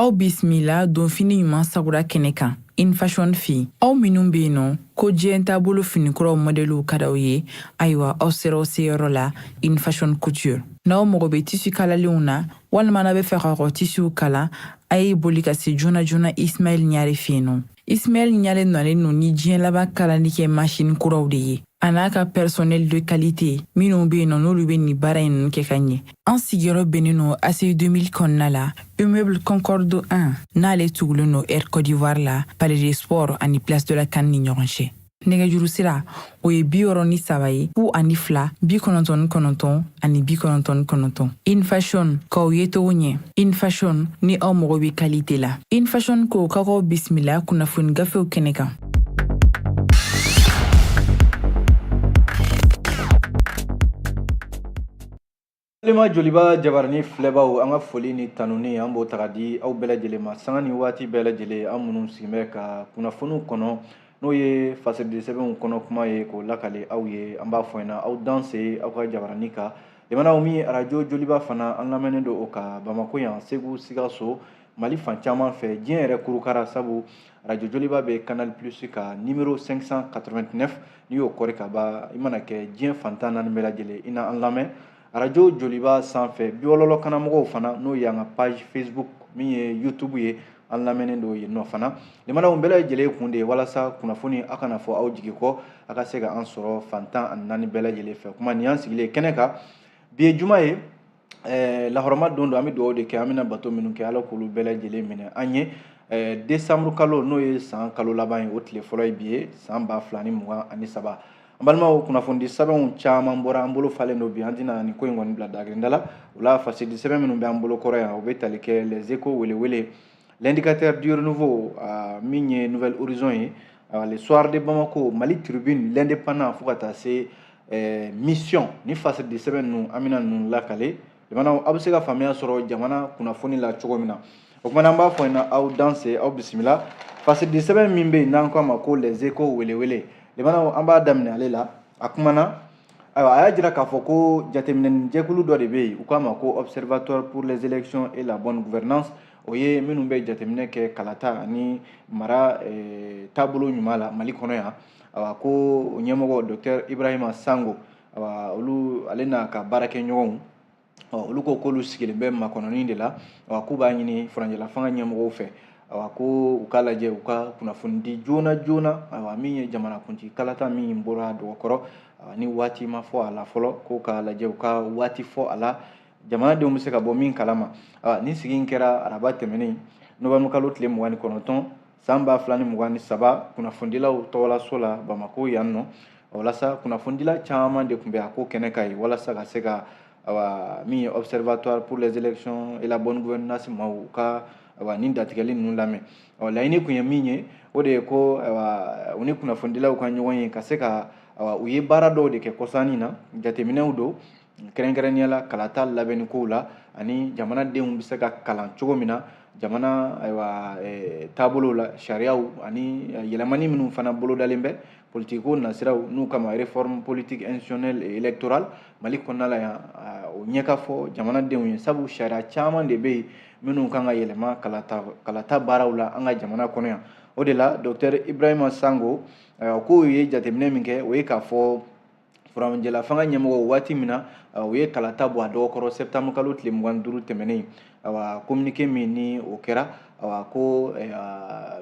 aw bisimila donfini ɲuman sagura kɛnɛ kan in fashion fɛ aw minnu bɛ yen nɔ ko diɲɛ taabolo finikuraw mɔdɛliw ka d'aw ye ayiwa aw sera aw seyɔrɔ la in fashion couture n'aw mago bɛ tisi kalalenw na walima n'a bɛ fɛ k'aw ka tisiw kala a ye boli ka se joona joona ismail ɲare fɛ yen nɔ Ismail Ɲare nɔlen no ni diɲɛ laban kalali kɛ masini kuraw de ye a n'a ka personnel de qualité minnu bɛ yen nɔ n'olu bɛ nin baara in ninnu kɛ ka ɲɛ an sigiyɔrɔ bɛnnen no ACI 2000 kɔnɔna la immeuble concorde 1 n'ale tugulen no air cote d'ivoire la palais des sports ani place de la CAN ni ɲɔgɔn cɛ nɛgɛjuru sira o ye bi wɔɔrɔ ni saba ye fu ani fila bi kɔnɔntɔn ni kɔnɔntɔn ani bi kɔnɔntɔn ni kɔnɔntɔn in fashion k'aw yecogo ɲɛ in fashion ni aw mago bɛ kalite la in fashion ko k'aw bisimila kunnafoni gafew kɛnɛ kan balima joliba jabarani filɛbaaw an ka foli ni tanuni an b'o ta k'a di aw bɛɛ lajɛlen ma sanga ni waati bɛɛ lajɛlen an minnu sigin bɛ ka kunnafoniw kɔnɔ n'o ye fasiridisɛbɛnw kɔnɔ kuma ye k'o lakale aw ye an b'a fɔ ɲɛna aw danse aw ka jabarani kan lamɛnnaw min arajo joliba fana an lamɛnnen don o kan bamako yan segu sikaso mali fan caman fɛ diɲɛ yɛrɛ kurukara sabu radio joliba bɛ canal plus ka numero 589 n'i y'o kɔri ka ban i mana kɛ diɲɛ fan tan ni naani bɛɛ lajɛlen i na an lamɛn radio joliba sanfɛ bɔlɔlɔ kanna mɔgɔw fana n'o y'an ka page facebook min ye youtube ye an lamɛnnen don yen nɔ fana lamɛnnaw bɛɛ lajɛlen kun de ye walasa kunnafoni a kana fɔ aw jigi kɔ a ka se ka an sɔrɔ fan tan ani naani bɛɛ lajɛlen fɛ kuma nin y'an sigilen kɛnɛ kan bi ye juma ye ɛɛ lahɔrɔma don don an bɛ dugawu de kɛ an bɛna bato minnu kɛ ala k'olu bɛɛ lajɛlen minɛ an ye ɛɛ desanburu kalo n'o ye san kalo laban ye o tile fɔlɔ ye bi ye san ba fila ni mugan ani saba an balimaw kunnafonidisɛbɛnw caman bɔra an bolo falen don bi an tɛna nin ko in kɔni bila dagirinda la o la fasiridisɛbɛn minnu bɛ an bolo kɔrɔ yan o bɛ tali kɛ les échos welewele L'indicateur du renouveau euh, min ye nouvel horizon ye euh, le soir de Bamako Mali tribune l'indépendant fo ka taa se euh, mission ni fasiridisɛbɛn ninnu an bɛna ninnu lakale lamɛnnaw aw bɛ se ka faamuya sɔrɔ jamana kunnafoni la cogo min na o kumana an b'a fɔ ɲɛna aw danse aw bisimila fasiridisɛbɛn min bɛ yen n'an k'a ma ko les échos welewele lamɛnnaw an b'a daminɛ ale la a kumana ayiwa a y'a jira k'a fɔ ko jateminɛnijɛkulu dɔ de bɛ yen u k'a ma ko observatoire pour les élections et la bonne gouvernance o ye minnu bɛ jateminɛ kɛ kalata ani mara eh, taabolo ɲuman la mali kɔnɔ yan awa ko o ɲɛmɔgɔ docteur ibrahima sangho awa olu ale n'a ka baarakɛɲɔgɔnw ɔ olu ko k'olu sigilen bɛ makɔnɔni de la wa k'u b'a ɲini furancɛla fanga ɲɛmɔgɔw fɛ awa ko u k'a lajɛ u ka kunnafoni di joona joona awa min ye jamanakuntigi kalata min bɔra dɔgɔkɔrɔ ni waati ma fɔ a la fɔlɔ ko k'a lajɛ u ka waati fɔ a la jamanadenw bɛ se ka bɔ min kalama nin sigi in kɛra araba tɛmɛnen novembre kalo tile mugan ni kɔnɔntɔn san ba fila ni mugan ni saba kunnafonidilaw tɔgɔlaso la bamako yan nɔ walasa kunnafonidila caman de tun bɛ a ko kɛnɛ kan yen walasa ka se ka awa min ye observatoire pour les élections et la bonne gouvernance maaw u ka awa nin dantigɛli ninnu lamɛn ɔ laɲini tun ye min ye o de ye ko awa u ni kunnafonidilaw ka ɲɔgɔn ye ka se ka awa u ye baara dɔw de kɛ kɔsa in na jateminɛw don kɛrɛnkɛrɛnnenya la kalata labɛnni kow la ani jamanadenw bɛ se ka kalan cogo min na jamana ayiwa eh, taabolo la sariyaw ani eh, yɛlɛmani minnu fana bolodalen bɛ politikiko nasiraw n'u k'a ma réforme politique institutionnelle et électorale mali kɔnɔna la yan eh, o ɲɛ ka fɔ jamanadenw ye sabu sariya caman de bɛ yen minnu kan ka yɛlɛma kalata kalata baaraw la an ka jamana kɔnɔ yan o de la docteur ibrahima sango k'o ye jateminɛ min kɛ o ye k'a fɔ furancɛlafanga ɲɛmɔgɔw waati min na u ye kalata bɔ a dɔgɔ kɔrɔ septembre kalo tile mugan duuru tɛmɛnen awa kominike min ni o kɛra awa ko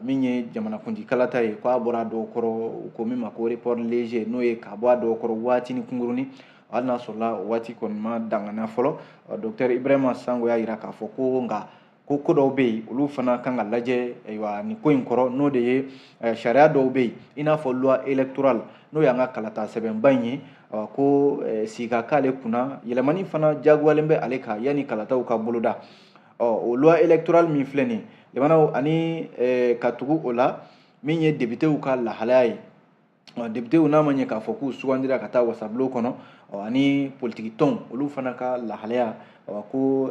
min ye jamanakuntigi kalata ye k'a bɔra a dɔgɔ kɔrɔ u ko min ma ko report léger n'o ye ka bɔ a dɔgɔ kɔrɔ waatinin kunkurunnin hali n'a sɔrɔla o waati kɔni ma dangana fɔlɔ docteur ibrahima sango y'a jira k'a fɔ ko nka ko ko dɔw bɛ yen olu fana kan ka lajɛ ayiwa nin ko in kɔrɔ n'o de ye eh, sariya dɔw bɛ yen i n'a fɔ loi électorale n'o y'an ka kalata sɛbɛnba in ye ko eh, sigi ka k'ale kunna yɛlɛmani fana jagoyalen bɛ ale kan yanni kalataw ka boloda ɔ o loi électorale min filɛ nin ye jamanaw ani eh, ka tugu o la min ye depitew ka lahalaya ye depitew n'a ma ɲɛ k'a fɔ k'u sugandira ka taa wasabulon kɔnɔ ani politiki tɔnw olu fana ka lahalaya ko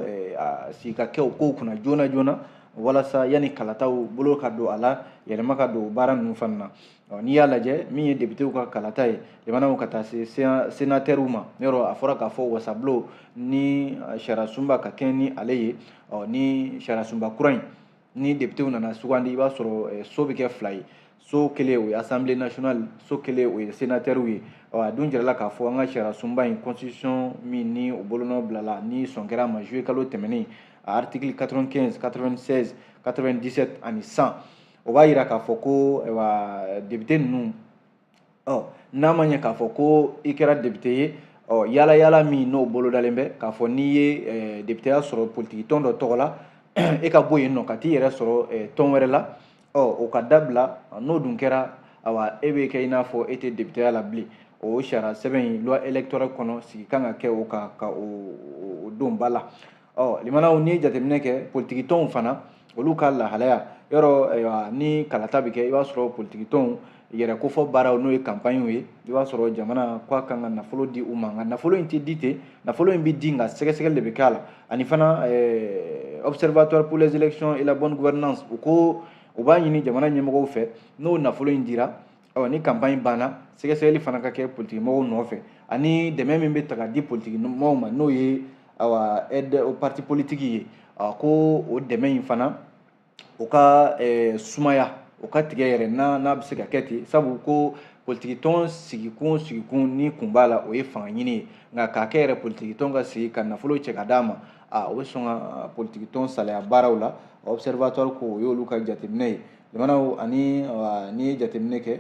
sigi ka kɛ o kow kunna joona joona walasa yanni kalataw bolo ka don a la yɛlɛma ka don baara ninnu fana na ɔ n'i y'a lajɛ min ye depitew ka kalata ye jamanaw ka taa se senatɛriw ma yɔrɔ a fɔra k'a fɔ wasabulon ni sariyasunba ka kɛɲɛ ni ale ye ɔ ni sariyasunba kura in ni depitew nana sugandi i b'a sɔrɔ eh, so bɛ kɛ fila ye so kelen o ye assemblée nationale so kelen o ye senatɛriw ye ɔ a dun jirala k'a fɔ an ka sariya sunba in constitution min ni o bolonɔ bilala ni sɔn kɛra a ma juillet kalo tɛmɛnen a article 95 96 97 ani 100 o b'a jira k'a fɔ ko eh, wa député ninnu ɔ n'a ma ɲɛ k'a fɔ ko i kɛra depite ye ɔ yala yala min n'o bolodalen bɛ k'a fɔ n'i ye eh, depiteya sɔrɔ politikitɔn dɔ tɔgɔ la e ka bɔ yen nɔ ka t'i yɛrɛ sɔrɔ eh, tɔn wɛrɛ la ɔ o ka dabila n'o dun kɛra awa e bɛ kɛ i n'a fɔ e tɛ depiteya la bilen o sariya sɛbɛn in loi électorale kɔnɔ sigi kan ka kɛ o kan ka o don ba la ɔ limanaw n'i ye jateminɛ kɛ politikitɔnw fana olu ka lahalaya yɔrɔ ni kalata bɛ kɛ i b'a sɔrɔ politikitɔnw yɛrɛ kofɔ baaraw n'o ye kanpaɲiw ye i b'a sɔrɔ jamana k'a kan ka nafolo di u ma nka nafolo in tɛ di ten nafolo in bɛ di nka sɛgɛsɛgɛli de bɛ k'a la ani fana observatoire pour les élections et la bonne gouvernance u ko u b'a ɲini jamana ɲɛmɔgɔw fɛ n'o nafolo in dira ɔ ni kanpaɲi banna sɛgɛsɛgɛli fana ka kɛ politikimɔgɔw nɔfɛ ani dɛmɛ min bɛ ta ka di politikimɔgɔw ma n'o ye awa aide aux partis politiques ye ko o dɛmɛ in fana o ka sumaya o ka tigɛ yɛrɛ n'a n'a bɛ se ka kɛ ten sabu ko politikitɔn sigikun sigikun ni kun b'a la o ye fanga ɲini ye nka k'a kɛ yɛrɛ politikitɔn ka sigi ka nafolo cɛ ka d'a ma a o bɛ sɔn ka politikitɔn salaya baaraw la observatoire ko o y'olu ka jateminɛ ye jamanaw ani n'i ye jateminɛ kɛ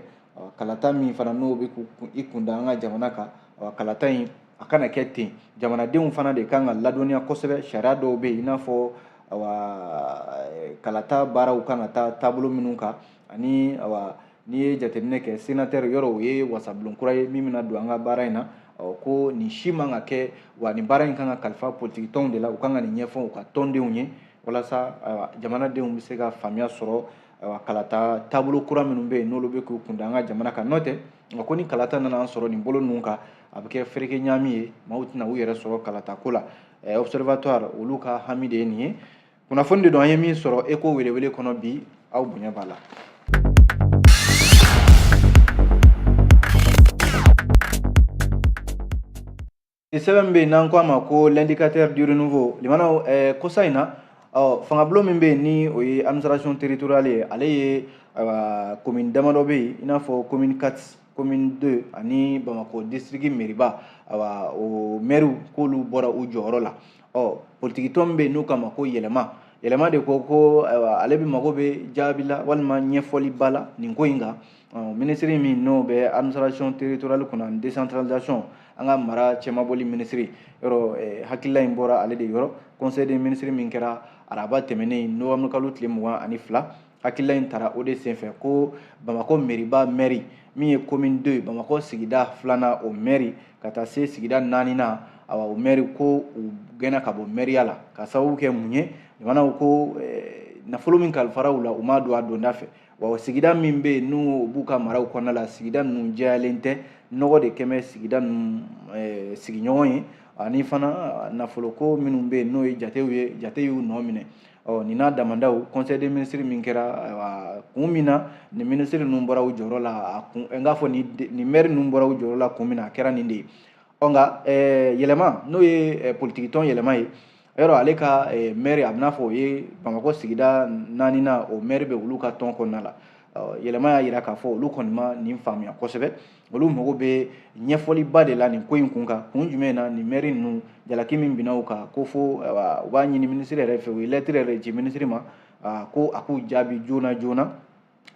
kalata min fana n'o bɛ i kunda an ka jamana kan kalata in a kana kɛ ten jamanadenw fana de kan ka ladɔnniya kosɛbɛ sariya dɔw bɛ yen i n'a fɔ kalata baaraw kan ka taa taabolo minnu kan ani n'i ye jateminɛ kɛ senatɛri yɔrɔ o ye wasabulon kura ye min bɛna don an ka baara in na ko nin si man ka kɛ wa nin baara in kan ka kalifa politikitɔnw de la u kan ka nin ɲɛfɔ u ka tɔndenw ye walasa ayiwa jamanadenw bɛ se ka faamuya sɔrɔ ayiwa kalata taabolo kura minnu bɛ yen n'olu bɛ k'u kunda an ka jamana kan n'o tɛ a ko ni kalata nana an sɔrɔ nin bolo ninnu kan a bɛ kɛ fereke ɲaami ye maaw tɛna u yɛrɛ sɔrɔ kalata ko la ɛɛ observatoire olu ka hami de ye nin ye kunnafoni de don an ye min sɔrɔ eko welewele kɔnɔ bi aw bonya b'a la. ni sɛbɛn min bɛ yen n'an ko a ma ko l'indicateur du renouveau limanaw ɛɛ kosa in na ɔ fangabulon min bɛ yen ni o ye administration territoriale ye ale ye ayiwa commune damadɔ bɛ yen i n'a fɔ commune 4 commune 2 ani bamakɔ district meriba ayiwa o mɛriw k'olu bɔra u jɔyɔrɔ la ɔ politikitɔn min bɛ yen n'u k'a ma ko yɛlɛma yɛlɛma de ko ko ayiwa ale bɛ mago bɛ jaabi la walima ɲɛfɔliba la nin ko in kan minisiri min n'o bɛ administration territoriale kunna ani décentralisation an ka mara cɛmabɔli minisiri yɔrɔ eh, hakilila in bɔra ale de yɔrɔ conseil des minisiri min kɛra araba tɛmɛnen novembre kalo tile mugan ani fila hakilila in tara o de senfɛ ko bamakɔ meriba mɛri min ye commune 2 bamakɔ sigida filanan o mɛri ka taa se sigida naaninan awa o mɛri ko u gɛnna ka bɔ mɛriya la ka sababu kɛ mun ye jamanaw ko eh, nafolo min kalifara u la u m'a don a donda fɛ wa sigida min bɛ yen n'u b'u ka maraw kɔnɔna la sigida ninnu jɛyalen tɛ nɔgɔ de kɛlen bɛ sigida ninnu eh, sigiɲɔgɔn ye ani fana nafoloko minnu bɛ yen n'o ye jatew ye jate y'u nɔ minɛ ɔ nin n'a damadɔw conseil des ministres min kɛra kun min na nin minisiri ninnu bɔra u jɔyɔrɔ la a kun n k'a fɔ nin maire ninnu bɔra u jɔyɔrɔ la kun min na a kɛra nin de ye ɔ nka eh, yɛlɛma n'o ye eh, politikitɔn yɛlɛma ye yɔrɔ ale ka eh, mɛri a bɛn'a fɔ o ye bamakɔ sigida naaninan o mɛri bɛ olu ka tɔn kɔnɔna la yɛlɛma y'a yira k'a fɔ olu kɔni ma nin faamuya kosɛbɛ olu mago bɛ ɲɛfɔliba de la nin ko in kun kan kun jumɛn na nin mɛri ninnu jalaki min binna u kan ko fo u b'a ɲini minisiri yɛrɛ fɛ u ye lɛtiri yɛrɛ ci minisiri ma ko a k'u jaabi joona joona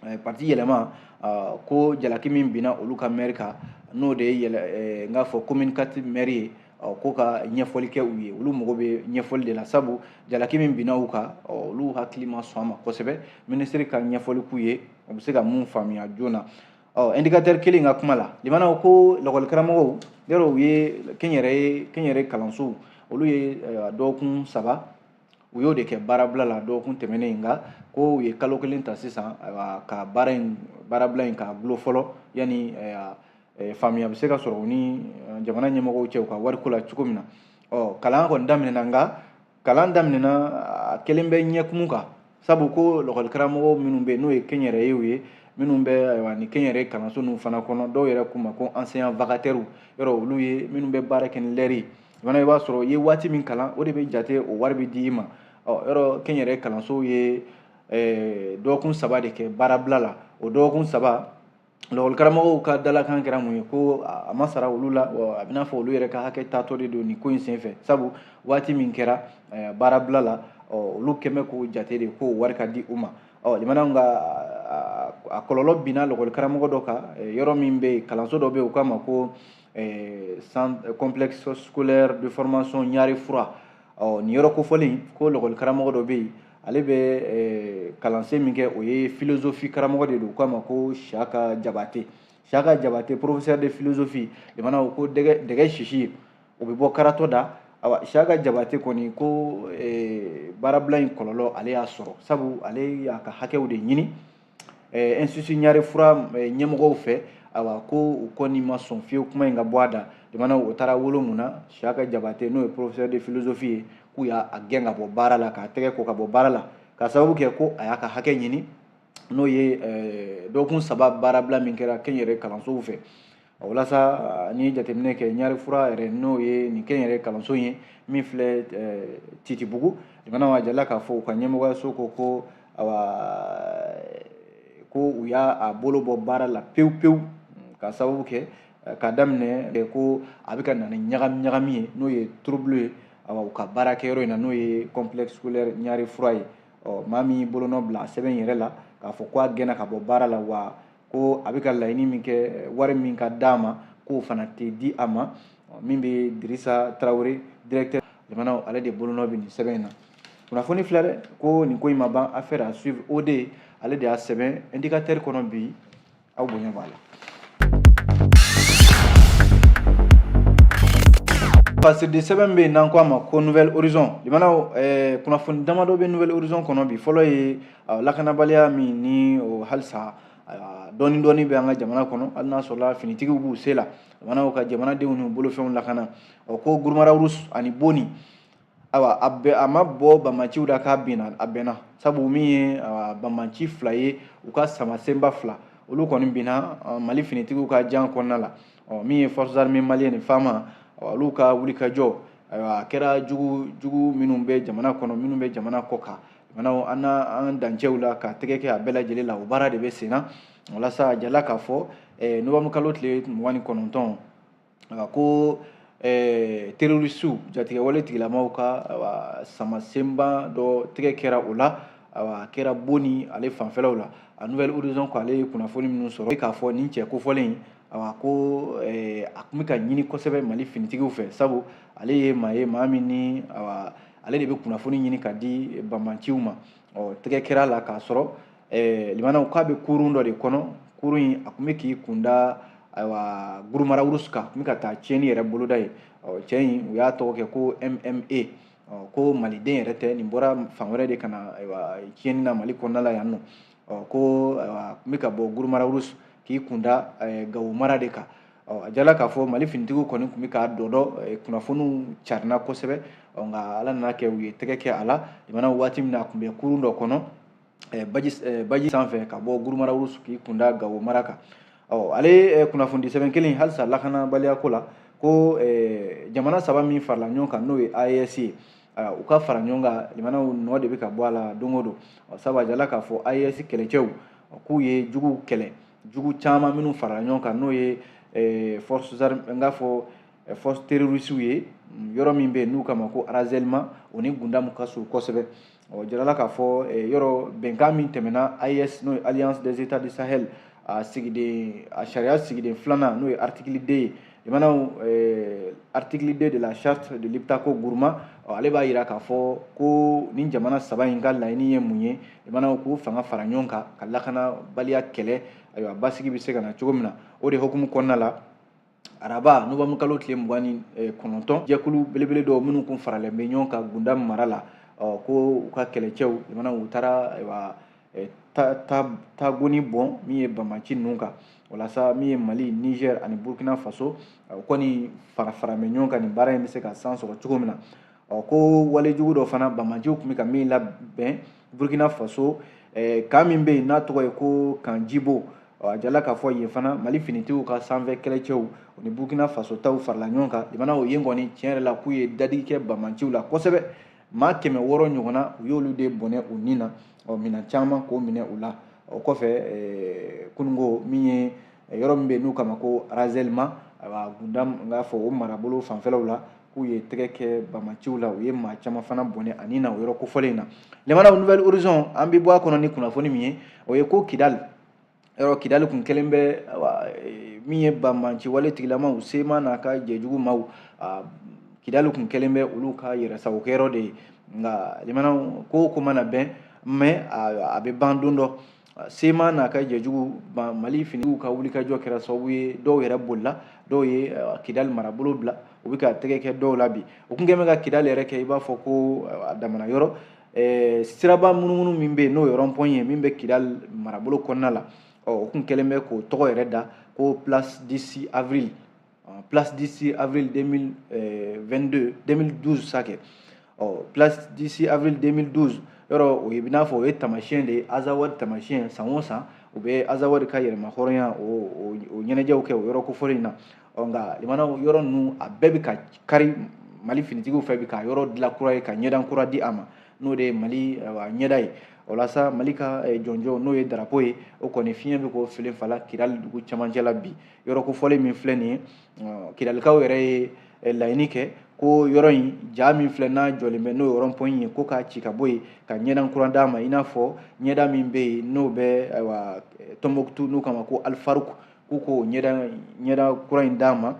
eh, parti yɛlɛma ah, ko jalaki min binna olu ka mɛri kan n'o de ye eh, n k'a fɔ commune quatre mɛri ye ah, ko ka ɲɛfɔli kɛ u ye olu mago bɛ ɲɛfɔli de la sabu jalaki min binna u kan olu hakili ma sɔn a ma kosɛbɛ minisiri ka ɲɛfɔli k'u ye u bɛ se ka min faamuya joona ɔ indicateur kelen ka kuma la limanaw ko lakɔli karamɔgɔw yɔrɔ u ye kɛnyɛrɛye kɛnyɛrɛ kalansow olu ye dɔgɔkun saba u y'o de kɛ baarabila la dɔgɔkun tɛmɛnen in nka ko u ye kalo kelen ta sisan ka baara in baarabila in k'a dulon fɔlɔ yanni faamuya bɛ se ka sɔrɔ u ni jamana ɲɛmɔgɔw cɛ u ka wariko la cogo min na ɔ kalan kɔni daminɛna nka kalan daminɛna a kɛlen bɛ ɲɛkumu kan sabu ko lakɔli karamɔgɔ minnu bɛ n'o ye kɛnyɛrɛyew ye minnu bɛ ayiwa ni kɛnyɛrɛye kalanso ninnu fana kɔnɔ dɔw yɛrɛ k'u ma ko enseignants vacataires yɔrɔ olu ye minnu bɛ baara kɛ ni lɛri fana i b'a sɔrɔ i ye waati min kalan o de bɛ jate o wari bɛ di i ma ɔ yɔrɔ kɛnyɛrɛye kalansow ye dɔgɔkun saba de kɛ baarabila la o dɔgɔkun saba lakɔli karamɔgɔw ka dalakan kɛra mun ye ko a ma sara olu la wa a bɛn'a fɔ olu yɛrɛ ka hakɛ taatɔ de don nin ko in senfɛ sabu waati min kɛra baarabila la olu kɛn bɛ k'o jate de k'o wari ka di u ma ɔ limanaw nka a kɔlɔlɔ binna lakɔli karamɔgɔ dɔ kan yɔrɔ min bɛ yen kalanso dɔ bɛ yen u k'a ma ko complexe scolaire de formation ɲare froid ɔ nin yɔrɔ kofɔlen ko lakɔli karamɔgɔ dɔ bɛ yen ale bɛ eh, kalansen min kɛ o ye philosophie karamɔgɔ de don k'a ma ko siyaka jabate siyaka jabate professeur de philosophie limanaw ko dɛgɛ dɛgɛ sisi o bɛ bɔ karatɔ da awa siyaka jabate kɔni ko eh, baarabila in kɔlɔlɔ ale y'a sɔrɔ sabu ale y'a ka hakɛw de ɲini ɛɛ institut ɲare froid ɲɛmɔgɔw fɛ awa ko u kɔni ma sɔn fiyewu kuma in ka bɔ a da jamana o taara wolo mun na siyaka jabate n'o ye professeur de philosophie ye k'u y'a gɛn ka bɔ baara la k'a tɛgɛ ko ka bɔ baara la ka sababu kɛ ko a y'a ka hakɛ ɲini n'o ye dɔgɔkun saba baarabila min kɛra kɛnyɛrɛ kalansow fɛ o walasa ni jateminɛ kɛ ɲari fura yɛrɛ n'o ye nin kɛnyɛrɛ kalanso ye min filɛ titibugu limanaw a jala k'a fɔ u ka ɲɛmɔgɔyaso ko ko ko u y'a bolo bɔ baara la pewu pewu ka sababu kɛ ka daminɛ ko a bɛ ka na ni ɲagami ɲagami ye n'o ye trouble ye u ka baarakɛyɔrɔ in na n'o ye complexe scolaire ɲari fura ye ɔ maa min bolonɔ bila sɛbɛn in yɛrɛ la k'a fɔ k' a gɛnna ka bɔ baara la wa ko a bɛ ka laɲini min kɛ wari min ka d'a ma k'o fana tɛ di a ma min bɛ dirisa tarawele directeur limanaw ale de bolonɔ bɛ nin sɛbɛn in na kunnafoni filɛ dɛ ko nin ko in ma ban affaire à suivre o de ale de y'a sɛbɛn indicateur kɔnɔ bi aw bonya b'a la parce que sɛbɛn bɛ yen n'an ko a ma ko nouvel horizon limanaw kunnafoni damadɔ bɛ nouvel horizon kɔnɔ bi fɔlɔ ye lakanabaliya min ni o halisa dɔɔni dɔɔni bɛ an ka jamana kɔnɔ hali n'a sɔrɔla finitigiw b'u se la limanaw ka jamanadenw n'u bolofɛnw lakana o ko guruma rarus ani boni ayiwa a bɛ a ma bɔ banbanciw la k'a binna a bɛnna sabu min ye banbanci fila ye u ka samasenba fila olu kɔni binna mali finitigiw ka jan kɔnɔna la ɔ min ye forces armées maliennes ni fama olu ka wulikajɔ ayiwa a kɛra jugu jugu minnu bɛ jamana kɔnɔ minnu bɛ jamana kɔ kan Manaw an an dancɛw la ka tɛgɛ kɛ a bɛɛ lajɛlen la o baara de bɛ sen na walasa a jala k'a fɔ eh, nowanburu kalo tile mugan ni kɔnɔntɔn ko eh, terorisiw jatigɛwale tigilamaw ka samasenba dɔ tɛgɛ kɛra o la a kɛra boni ale fanfɛlaw la a nouvel horizon ko ale ye kunnafoni minnu sɔrɔ k'a fɔ nin cɛ kofɔlen a ko eh, a tun bɛ ka ɲini kosɛbɛ mali finitigiw fɛ sabu ale ye maa ye maa min ni ale de bɛ kunnafoni ɲini k'a di banbanciw ma ɔ tɛgɛ kɛra a la k'a sɔrɔ eh, limanaw k'a bɛ kurun dɔ de kɔnɔ kurun in a tun bɛ k'i kunda ayiwa guruma rarus kan a tun bɛ ka taa tiɲɛni yɛrɛ boloda ye ɔ cɛ in u y'a tɔgɔ kɛ ko mma ko maliden yɛrɛ tɛ nin bɔra fan wɛrɛ de ka na ayiwa tiɲɛni na mali kɔnɔna la yan nɔ ɔ ko a tun bɛ ka bɔ guruma rarus k'i kunda gawo mara de kan ɔ a jala k'a fɔ mali finitigiw kɔni tun bɛ k'a dɔdɔ kunnafoniw carina kosɛbɛ ɔ nka ala nan'a kɛ u ye tɛgɛ kɛ a la limanaw waati min na a tun bɛ kurun dɔ kɔnɔ baji sanfɛ ka bɔ guruma rarus k'i kunda gawo mara kan ɔ ale kunnafonidi sɛbɛn kelen halisa lakanabaliyako la ko jamana saba min farala ɲɔgɔn kan n'o ye aes ye u ka fara ɲɔgɔn kan limanaw nɔ de bɛ ka bɔ a la don o don sabu a jirala k'a fɔ AES kɛlɛcɛw k'u ye juguw kɛlɛ jugu caman minnu farala ɲɔgɔn kan n'o ye eh, force n k'a fɔ eh, force terrorisiw ye mm, yɔrɔ min bɛ yen n'u k'a ma ko arazɛlima o ni gundamu ka surun kosɛbɛ ɔ jirala k'a fɔ eh, yɔrɔ bɛnkan min tɛmɛna AES n'o ye alliance des états du sahel a sigiden a sariya sigiden filanan n'o ye article 2 ye limanaw eh, article 2 de la charte de liptako gourma ale b'a yira k'a fɔ ko nin jamana saba in ka laɲini ye mun ye jamanaw k'u fanga fara ɲɔgɔn kan ka lakanabaliya kɛlɛ ayiwa basigi bɛ se ka na cogo min na o de hukumu kɔnɔna la araba novanburu kalo tile mugan ni eh, kɔnɔntɔn jɛkulu belebele dɔw minnu kun faralen bɛ ɲɔgɔn kan gundam mara la ko u ka kɛlɛcɛw limanaw u taara ayiwa tagoni bɔn min ye banbanci ninnu kan walasa min ye mali niger ani burkina faso u kɔni fara fara bɛ ɲɔgɔn kan nin baara in bɛ se ka san sɔrɔ cogo min na ɔ ko walejugu dɔ fana banbanciw tun bɛ ka min labɛn burkina faso kan min bɛ yen n'a tɔgɔ ye ko kan jibo a jirala k'a fɔ yen fana mali finitigiw ka sanfɛ kɛlɛcɛw ni burkina faso taw farala ɲɔgɔn kan limanaw yen kɔni tiɲɛ yɛrɛ la k'u ye dadigi kɛ banbanciw la kosɛbɛ maa kɛmɛ wɔɔrɔ ɲɔgɔnna u y'olu de bɔnɛ u ni na ɔ minɛn caman k'o minɛ u la o kɔfɛ eh, kunun ko min ye eh, yɔrɔ min bɛ n'u k'a ma ko arazɛlima ayiwa gundam n k'a fɔ o marabolo fanfɛlaw la k'u ye tɛgɛ kɛ banbanciw la u ye maa caman fana bɔnɛ a ni na o yɔrɔ kofɔlen in na limanaw nouvel horizon an bɛ bɔ a kɔnɔ ni kunnafoni min ye o ye ko kidali yɔrɔ kidali kun kɛlen bɛ e, min ye banbanci wale tigilamaw CMA n'a ka jɛjugu maw kidali kun kɛlen bɛ olu ka yɛrɛsagokɛyɔrɔ de ye nka limanaw ko o ko mana mɛn mɛ a bɛ ban don dɔ CMA n'a ka jɛjugu mali finiw ka wulikajɔ kɛra sababu ye dɔw yɛrɛ bolila dɔw ye kidali marabolo bila u bɛ ka tɛgɛ kɛ dɔw la bi u tun kɛn bɛ ka kidali yɛrɛ kɛ i b'a fɔ ko a damana yɔrɔ eh, siraba munumunu min bɛ yen n'o ye rɔnpɔn ye min bɛ kidali marabolo kɔnɔna la ɔ u tun kɛlen bɛ k'o tɔgɔ yɛrɛ da ko place 6 avril place 6 avril 2022 2012 sa kɛ ɔ place 6 avril 2012 yɔrɔ o ye i n'a fɔ o ye taamasiyɛn de ye azawadi taamasiyɛn san o san u bɛ azawadi ka yɛrɛmahɔrɔnya o ɲɛnajɛw kɛ o yɔrɔ kofɔlen in na ɔ nka limanaw yɔrɔ ninnu a bɛɛ bɛ ka kari mali finitigiw fɛ bi ka yɔrɔ dilan kura ye ka ɲɛda kura di a ma n'o de ye mali ɲɛda ye o la sa mali ka eh, jɔnjɔn n'o ye darapo ye o kɔni fiɲɛ bɛ k'o filinfalan kidali dugu camancɛ la bi yɔrɔ kofɔlen min filɛ nin ye kidalikaw yɛrɛ ye eh, laɲini kɛ ko yɔrɔ in ja min filɛ n'a jɔlen bɛ n'o ye rɔnpɔn ye ko k'a ci ka bɔ yen ka ɲɛda kura d'a ma i n'a fɔ ɲɛda min bɛ yen n'o bɛ ayiwa eh, tɔnbɔkutu n'u k'a ma ko alifaruku ko ko ɲɛda kura in d'a ma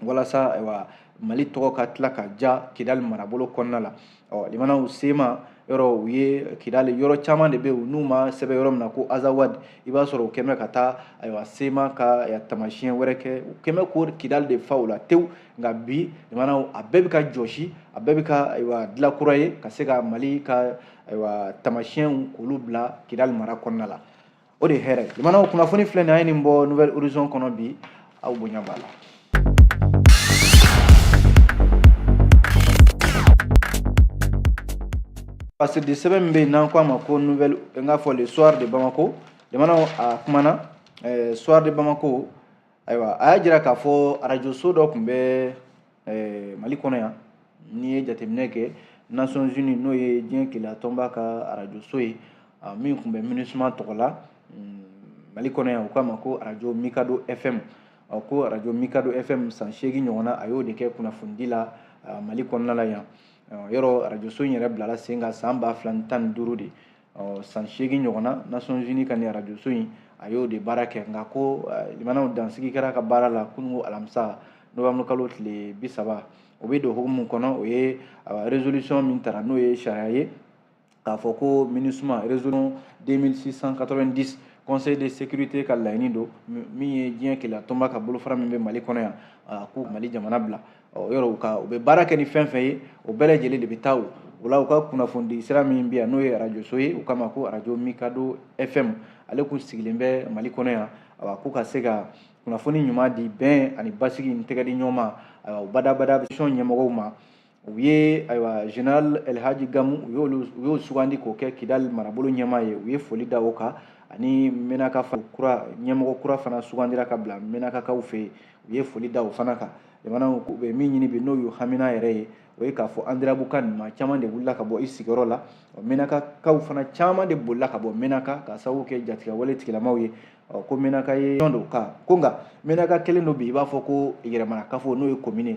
walasa ayiwa mali tɔgɔ ka tila ka ja kidali marabolo kɔnɔna la ɔ limanaw sema yɔrɔ u ye kidali yɔrɔ caman de bɛ yen n'u m'a sɛbɛn yɔrɔ min na ko azawad i b'a sɔrɔ u kɛlen bɛ ka taa ayiwa sema ka tamasiyɛn wɛrɛ kɛ u kɛlen bɛ ka kidali de fa o la tewu nka bi limanaw a bɛɛ bɛ ka jɔsi a bɛɛ bɛ ka ayiwa dilan kura ye ka se ka mali ka ayiwa tamasiyɛnw k'olu bila kidali mara kɔnɔna la o de hɛrɛ jamanaw kunnafoni filɛ nin an ye nin bɔ nouvelle horizon kɔnɔ bi aw bonya b'a la parce que sɛbɛn min bɛ yen n'an ko a ma ko nouvelle n k'a fɔ le soir de bamako jamanaw a kumana soir de bamako ayiwa a y'a jira k'a fɔ arajo so dɔ tun bɛ eh, mali kɔnɔ yan n'i ye jateminɛ kɛ nations unies n'o ye diɲɛ kelenya tɔnba ka arajo so ye ah, min tun bɛ minusma tɔgɔ la mm, mali kɔnɔ yan u k'a ma ko arajo mikado fm ah, ko arajo mikado fm san seegin ɲɔgɔnna a y'o de kɛ kunnafonidi la ah, mali kɔnɔna la yan yɔrɔ arajo so in yɛrɛ bilala sen kan san ba fila ni tan ni duuru de ɔ san seegin ɲɔgɔn na nations unies ka nin arajoso in a y'o de baara kɛ nka ko limanaw dansigi kɛra a ka baara la kununko alamisa novembre kalo tile bi saba o bɛ don hukumu kɔnɔ o ye résolution min tara n'o ye sariya ye k'a fɔ ko minusma résolution 2690 conseil de sécurité ka laɲini don min ye diɲɛ kelenya tɔnba ka bolofara min bɛ mali kɔnɔ yan k'u mali jamana bila ɔ yɔrɔ u ka u bɛ baara kɛ ni fɛn fɛn ye o bɛɛ lajɛlen de bɛ taa o o la u ka kunnafonidi sira min bɛ yan n'o ye arajoso ye u k'a ma ko arajo mikado fm ale kun sigilen bɛ mali kɔnɔ yan awa k'u ka se ka kunnafoni ɲuman di bɛn ani basigi ni tɛgɛdi ɲɔgɔn ma ayiwa u badabada sɔn ɲɛmɔgɔw ma u ye ayiwa général elhaji gamu u y'olu u y'o sugandi k'o kɛ kidali marabolo ɲɛmaa ye u ye foli da o kan ani menaka kura ɲɛmɔgɔ kura fana sugandira ka bila menakakaw fɛ yen u ye foli da o fana kan jamanaw u bɛ min ɲini bi n'o y'u hamina yɛrɛ ye o ye k'a fɔ andirabukani maa caman de wulila ka bɔ i sigiyɔrɔ la ɔ menakakaw fana caman de bolila ka bɔ menaka ka sababu kɛ jatigɛwale tigilamaw ye ɔ ko menaka région don ka ko nka menaka kɛlen don bi i b'a fɔ ko yɛrɛmana kafo n'o ye komini kan